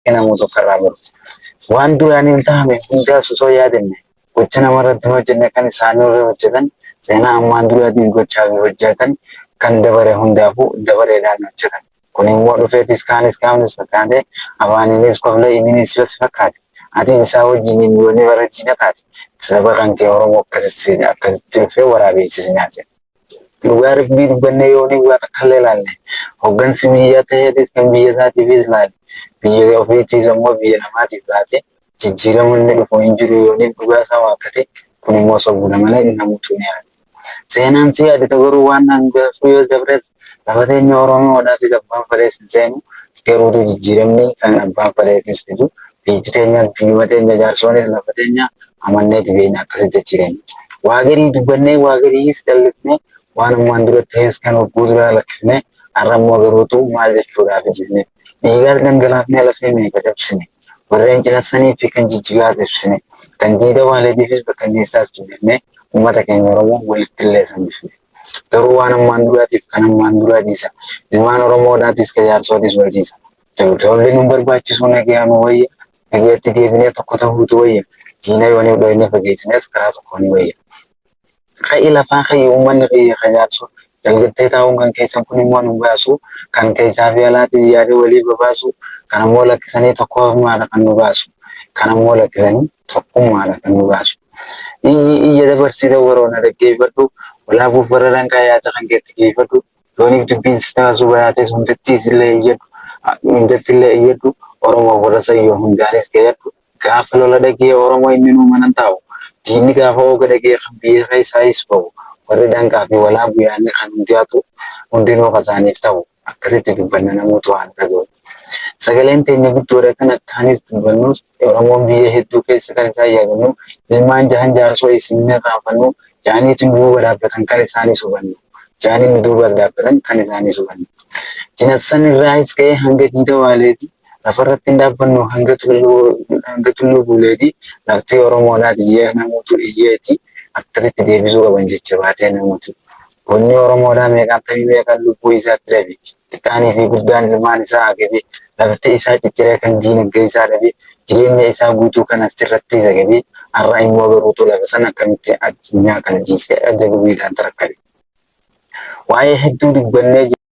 Akka namuu tokko irraa baru. Waan duraan hin taane hundaas osoo yaadanne gocha namarratti hin hojjenne kan isaanii irra hojjetan seenaa ammaan duraatiif gochaa fi hojjetan kan dabare hundaafuu dabaleedhaan hojjetan. Kun immoo dhufeetis kaanis kaafnis fakkaatee afaaniinis koflee ininis yoo si fakkaate atis isaa wajjin hin yoone bara diina taate saba kan kee Oromoo akkasitti dhufee waraabeessi si nyaate. Dhugaa rabbii dubbannee yoonii waa takka illee ilaalle hoggansi biyyaa ta'eetis kan biyya isaatiifis ilaale biyya ofiitiis ammoo biyya namaatiif laate jijjiirama inni dhufu hin jiru yoonii dhugaa isaa waakkate kun immoo sobuudha malee namuutu ni yaada. Seenaan si yaadita garuu waan hangaafuu yoo dabres lafa teenya Oromoodhaatiif abbaan fedhees hin seenu garuutu jijjiiramni kan abbaan fedheetis fidu biyyi teenyaas biyyuma teenya jaarsoonis lafa teenya amanneeti beekna akkasi jechi keenya. Waa garii dubbannee waa gariis dallifnee waan ammaan dura ta'es kan hogguu duraa lakkifnee har'a immoo garuutu maal jechuudhaaf jennee dhiigaas dhangalaafnee lafee meeqa cabsine warreen cinassanii fi kan jijjigaas ibsine kan diida waaleetiifis bakkanneessaas dubbifnee uummata keenya Oromoo walitti illee sambifne. Garuu waan ammaan duraatiif kan ammaan duraa dhiisa. Ilmaan Oromoodhaatis kan jaarsootis wal dhiisa. Tolli nu barbaachisuu nagayaa nu wayya. Biyyatti deebinee tokko ta'uutu wayya. Diina yoo ni dhooyne fageessines karaa tokko ni wayya. Ka'i lafaa ka'i uummanni kiyya kan yaadsu dalgattee taa'uun kan keessan kun immoo nu baasu kan keessaa fi alaatti yaada walii babaasu kan ammoo lakkisanii tokkummaadha kan nu baasu kan ammoo lakkisanii tokkummaadha kan nu baasu. Iyyi iyya dabarsita waroona dhaggeeffadhu walaabuuf bara danqaa yaada kan keetti geeffadhu Yooniif dubbiin sistema Zubayaa tees hundattiis illee iyyadhu, hundatti illee iyyadhu, Oromoof warra Sayyoo hundaanis gayadhu. Gaafa lola dhagee Oromoo inninuu manan taa'u. Diinni gaafa ooga dhagee kan biyyee keessaayis ba'u. Warri danqaa fi walaabu yaanne kan hundiyaatu hundinuu kan saaniif ta'u. Akkasitti dubbanna namuutu haa nu dhaga'u. Sagaleen teenya guddoodha kan akkaanis dubbannus Oromoon biyya hedduu keessa kan isaan yaadannu ilmaan jahan jaarsoo isin hin irraanfannu jaaniiti nu duuba dhaabbatan kan isaanis hubannu jaanii nu duuba dhaabbatan kan isaanis hubannu jinassan irraahis ka'ee hanga diida waaleeti lafarratti hin dhaabbannu hanga tulluu guuleeti laftii Oromoodhaati jee namuutu iyyeeti akkasitti deebisuu qaban jecha baatee namuutu Bunni Oromoodhaa meeqaan tamii meeqaan lubbuu isaatti dhabe Xiqqaanii fi guddaan ilmaan isaa agabee, lafti isaa cicciree kan diinagdee isaa dhabee, jireenya isaa guutuu kan asirratti zagabee, har'a immoo garuutu lafa sana akkamitti addunyaa kana dhiisee ajabbiidhaan tarakkate. Waa'ee hedduu dubbannee jirra.